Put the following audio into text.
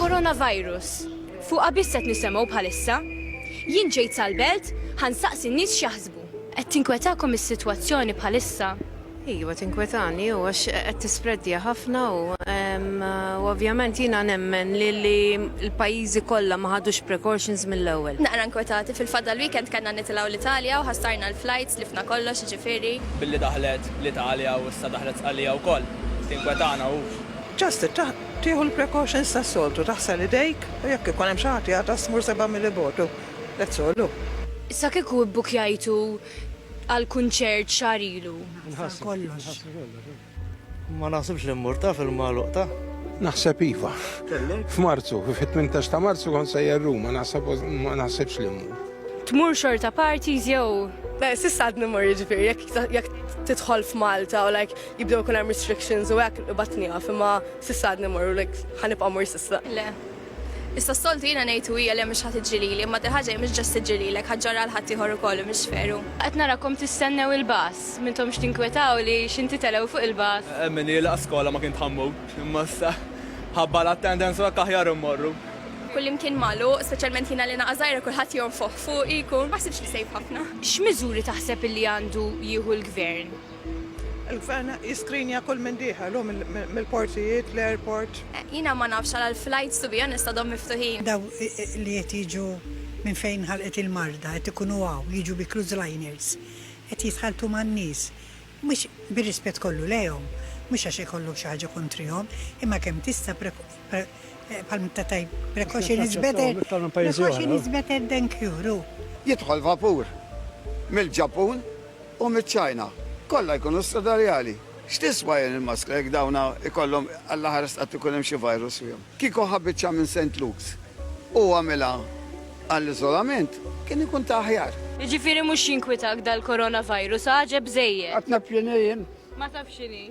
Coronavirus. Fuqha biss qed nisemgħu bħalissa. Jien ġejt sal-belt, ħa nsaqsi n-nies x'jaħsbu. Qed tinkwetakom is-sitwazzjoni bħalissa? Iva tinkwetani u għax qed tispreddja ħafna u ovvjament jiena nemmen li l-pajjiżi kollha ma ħadux precautions mill-ewwel. Naqra nkwetati fil-fatt dal-weekend kellna nitilgħu l-Italja u ħassarna l-flights, tlifna kollox jiġifieri. Billi daħlet l-Italja u issa daħlet Sqallija wkoll. Tinkwetana hu. Just tieħu l-precautions tas-soltu, taħsel idejk u jekk ikun hemm xi ħadd jagħtas tmur sebgħa mil bogħod u that's all u. Issa kieku ibbukkjajtu għal kunċert xahar ilu? Nħassru kollox. Ma naħsibx li mmur taf il-magħluq ta'. Naħseb iva. F'Marzu, fit-18 ta' Marzu kont sejjer Ruma, naħseb ma naħsibx li mmur. Tmur xorta parties jew? Sissa għadni mur jiġifieri jekk tidħol f'Malta u like jibdew ikun hemm restrictions u hekk ibat nieqaf imma s'issa għadni morru like ħanibqa' mur s'issa. Le. Issa s-soltu jiena ngħid u hija le mhux ħadd iġġilili, imma din ħaġa mhux ġast iġġililek, ħadd ġorrha għal ħadd ieħor ukoll u mhux veru. Qed narakom tistennew il-bus, m'intomx tinkwetaw li xi ntitelew fuq il-bus? Min jilqa' skola ma kien tħammu, imma issa ħabba l-attendance u hekk aħjar immorru. Kullimkien magħluq, speċjalment jiena li naqa' żgħira kulħadd jonfoħ fuqi, jkun, ma ħsibtx li safe ħafna. X'miżuri taħseb illi għandu jieħu l-Gvern? Il-Gvern jiskrinja kull min dieħel hu mill-portijiet, l-airport. Jiena ma nafx għala l-flights to be honest għadhom miftuħin. Daw li qed jiġu minn fejn nħalqet il-marda qed ikunu hawn jiġu bi cruise liners, qed jitħalltu man-nies, mhux, bir-rispett kollu lejhom, mhux għax ikollok xi ħaġa kontrihom, imma kemm tista' bħal meta tgħid precaution is better, precaution is better than cure, hu. Jidħol vapur mill-Ġappun. U miċ-Ċina, kollha jkunu stadarjali. X'tiswa jien il-maskra jekk dawna jkollhom Alla ħares qatt ikun hemm xi virus fihom. Kieku ħa biċċa minn Saint Luke's u għamilha għall-iżolament, kien ikun ta' aħjar. Jiġifieri mhux jinkwitak dal-coronavirus, għaġeb żejjed. Għad naf x'inhi jien. Ma tafx x'inhi.